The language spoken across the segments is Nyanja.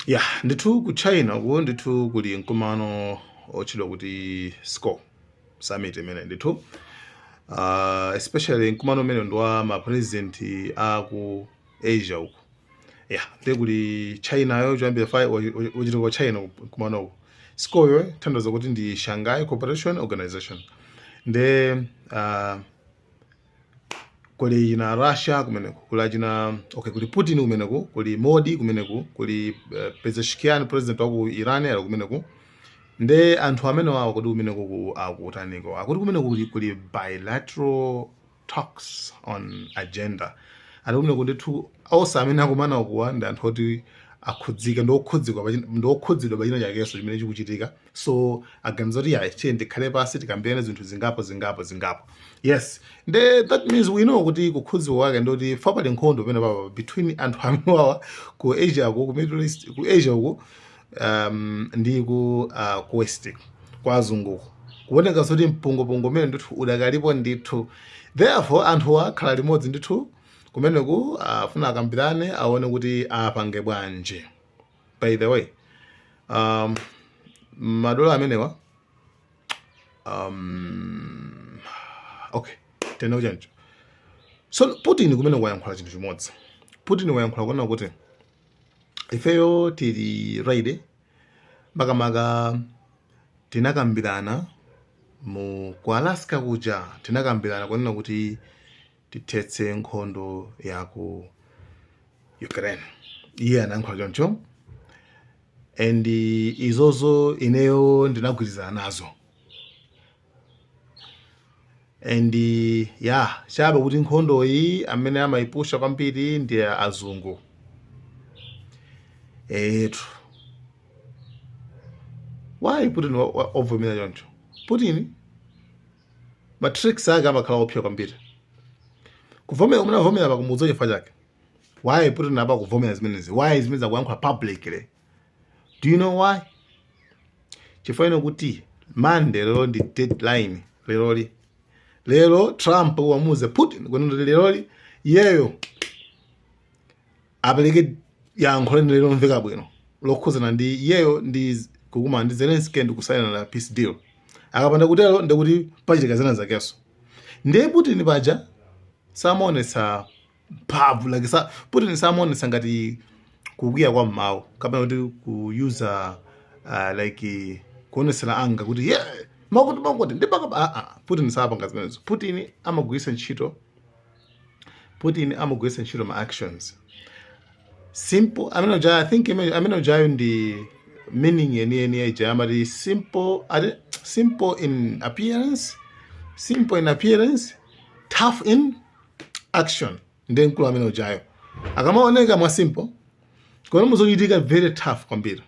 ya ndithu ku china uko ndithu kuli mkumano otchedwa kuti sco summit imene ndithu uh, especially mkumano umene ndi wa mapresident a ku asia uko ya ndi kuli china yo choyambira fa- wa- wa- wachitika kwa china mkumano uko sco yotanthauza kuti ndi shanghai cooperation organization nde uh, kuli china Russia kumeneku kuli achina okay kuli Putin kumeneku kuli Modi kumeneku kuli uh, Pezeshkian president wa ku Iran ali kumeneku nde anthu amenewawo kodi kumeneku akutaniko akuti kumeneku kuli, kuli bilateral talks on agenda ali kumeneku ndithu onse amene akumana ukowa ndi anthu oti akhudzika ndi okhudzidwa pachina chakenso chimene chikuchitika so aganiza kuti yayi tiyeni tikhale pansi tikambirane zinthu zingapo zingapo zingapo yes nde that means we know kuti kukhudzika kwake ndoti fa pali nkhondo penapake between anthu amenewawa ku asia ku ku middle east ku asia uku um, ndi ku, uh, ku west kwa azunguko kuoneka zoti mpungwepungwe umene ndithu udakalipo ndithu therefore anthuwa akhala limodzi ndithu kumeneku afuna akambirane aone kuti apange bwanji by the way um, madola amenewa um, okay tena kuchancho so putin kumeneku wayankhula chinthu chimodzi putin wayankhula kunena kuti ifeyo tili ready makamaka tinakambirana mu ku alaska kuja tinakambirana kunena kuti tithetse nkhondo ya ku ukraine iye anayankhula choncho and izozo ineyo ndinagwirizana nazo and ya chabe kuti nkhondo iyi amene amayipusha kwambiri ndi azungu eti why putin wa- wa- wavomera choncho putin ma tricks ake amakhala opsa kwambiri kuvomera kumene avomera pa kumudzi chifukwa chake why putin apa kuvomera zimenezi why zimenezi akuyankhula publicly do you know why chifukwa ino kuti monday leroli ndi deadline leroli lero trump anamuuza putin kuti leroli iyeyo apereke yankho lenileni lomveka bwino lokhuzana ndi iyeyo ndi z- kukumana ndi zelenski ndi kusainana peace deal akapanda kutero ndikuti pachitika zina zakenso ndiye putin paja samaonetsa mphamvu like sa, putin samaonetsa ngati kukwiya kwa mmawu kapena kuti kuyuza uh, like kuonetsera anga kuti ye makuti makuti ndipanga aa putin sapanga zimenezo putin amagwiritsa ntchito putin amagwiritsa ntchito ma actions simple amene uja i think ime- amene ujayo ndi meaning yeniyeni ya ija amati simple ati simple in appearance simple in appearance tough in action ndi mkulu amene ujayo akamaoneka mwa simple koma muzochitika very tough kwambiri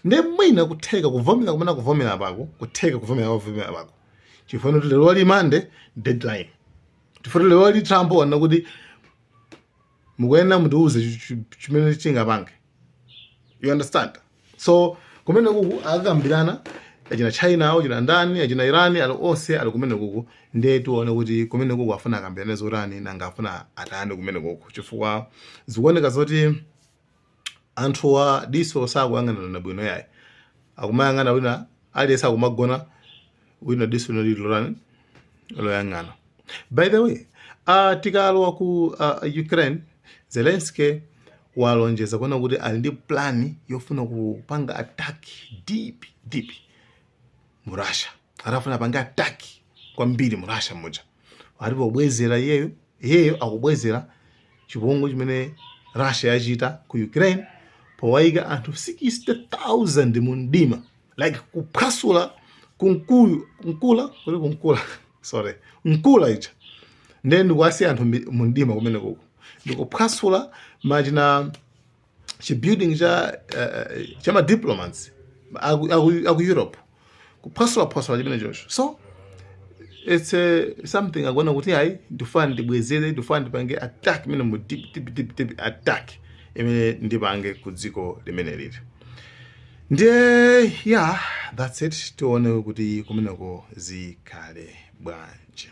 nde mwina kutheka kuvomera kumene kuvomera pako kutheka kuvomera kuvomera pako chifukwa kuti lero li monday deadline chifukwa lero li trump wonena kuti mukuyenera mutiuze chi- chi- chimene chingapange you understand so kumene kuku akakambirana achina china achina ndani achina irani ali onse ali kumene kuku ndiye tione kuti kumene kuku afuna akambirane zotani nanga afuna atani kumene kuku chifukwa zikuoneka zoti anthuwa diso sakuyang'anana bwino yayi akumayang'ana wina aliyense akumagona wina diso lina lili lotani loyang'ana by the way uh, tikalowa ku uh, ukraine zelensky walonjeza kunena kuti ali ndi plani yofuna kupanga attack deep deep mu Russia akufuna apange attack kwambiri mu Russia muja alipo kubwezera iyeyo iyeyo akubwezera chipongwe chimene Russia yachita ku Ukraine powayika anthu 60000 mu mdima like kuphwasula kunkuyu nkula kuli kunkula sorry nuclear ija ndiye ndikuwasiya anthu mumdima kumene kuku ndikuphwasula machina chibuilding cha uh, cha ma diplomats aku, aku, aku Europe kuphwasula phwasula chimene chocho so it's a, something akuona kuti ayi ndifuna ndibwezere ndifuna ndipange attack imene mu deep deep deep deep attack imene ndipange ku dziko limeneli ndiye yeah that's it tione kuti kumeneko zikhale bwanji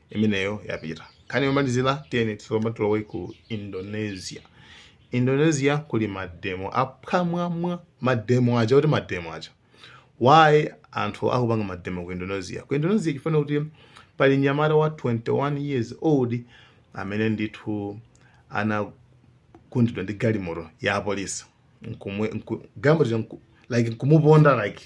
imeneyo yapita nkhani yomalizira tiyeni tsopano tilowe ku indonesia indonesia kuli mademo apamwamba mademo aja kuti mademo aja why anthu akupanga mademo ku indonesia ku indonesia chifukwa kuti pali nyamata wa 21 years old amene ndithu anagundidwa ndi galimoto ya apolisi nkumwe nku, galimoto nku, like nkumuponda like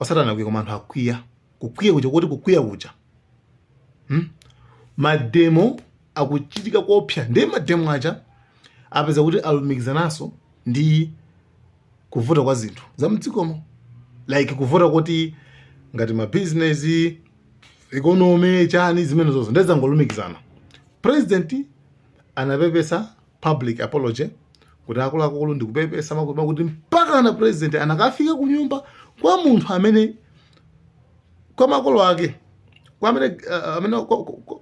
osati anakwiya koma anthu akwiya kukwiya kuja kuti kukwiya kuja hmm? mademo akuchitika koopsa ndi mademo aja apeza kuti alumikizananso ndi kuvuta kwa zinthu za mdzikomo like kuvuta kuti ngati mabizinesi economy chani zimenezozo nde zangolumikizana president anapepesa public apology kuti akuluakulu ndikupepesa mpaka kuti mpaka na president anakafika ku nyumba kwa munthu amene kwa makolo ake kwa amene uh, amene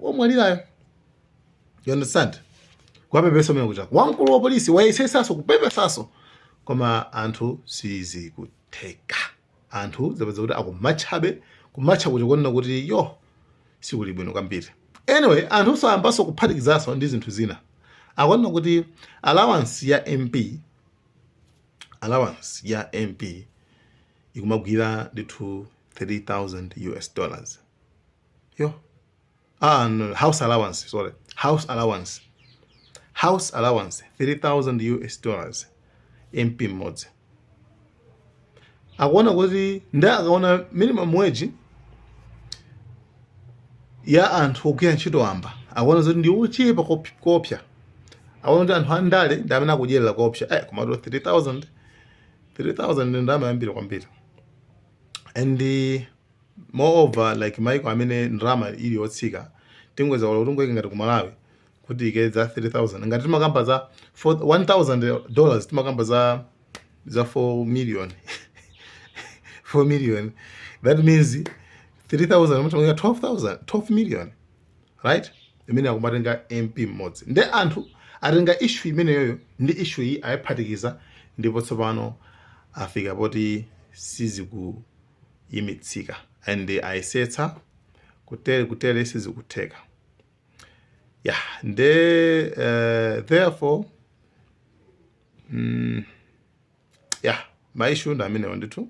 omwalirayo you understand kwapepesa mwina kuchoka kwa mkulu wa polisi wayesesaso kupepesaso koma anthu sizikutheka anthu zapezeka kuti akumatchabe kumatcha kuti kuona kuti yo sikuli bwino kwambiri anyway anthu nso ayambanso kuphatikizaso ndi zinthu zina akuona kuti allowance ya mp allowance ya mp ikumagwira ndithu 3000 us dollars yo ah, no, house allowance sorry house allowance house allowance 3000 us dollars mp mmodzi akuona kuti ndi akaona minimum wage ya anthu ogwira ntchito wamba akuona zoti ndi ochepa kop- kopsa akuona kuti anthu andale ndi amene akudyerera kopsa eh, komatu 3000 3000 ndi ndalama yambiri kwambiri and more over like maiko amene ndalama ili yotsika tingoyeza kaya kuti tingoyika ngati ku malawi kuti ike za 3000 ngati timakamba za 1000 dollars timakamba za za 4 million 4 million that means 3000 mukukamba 12000 12 million right imene akumatenga mp mmodzi nde anthu atenga issue imeneyoyo ndi issue iyi ayiphatikiza ndipo tsopano afika poti siziku yimitsika and ayesetsa kutere kutere sizikutheka ya nde uh, therefore mm, ya ma issue ndi amenewo ndithu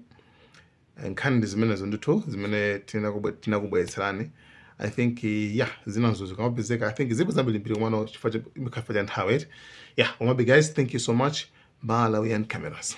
nkhani ndi zimenezo ndithu zimene tinakubwe- tinakubweretserani i think eh, ya zinazo zikamapezeka i think zipo zambirimbiri komano chifukwa cha- chifukwa cha nthawi eti ya komabe guys thank you so much malawian cameras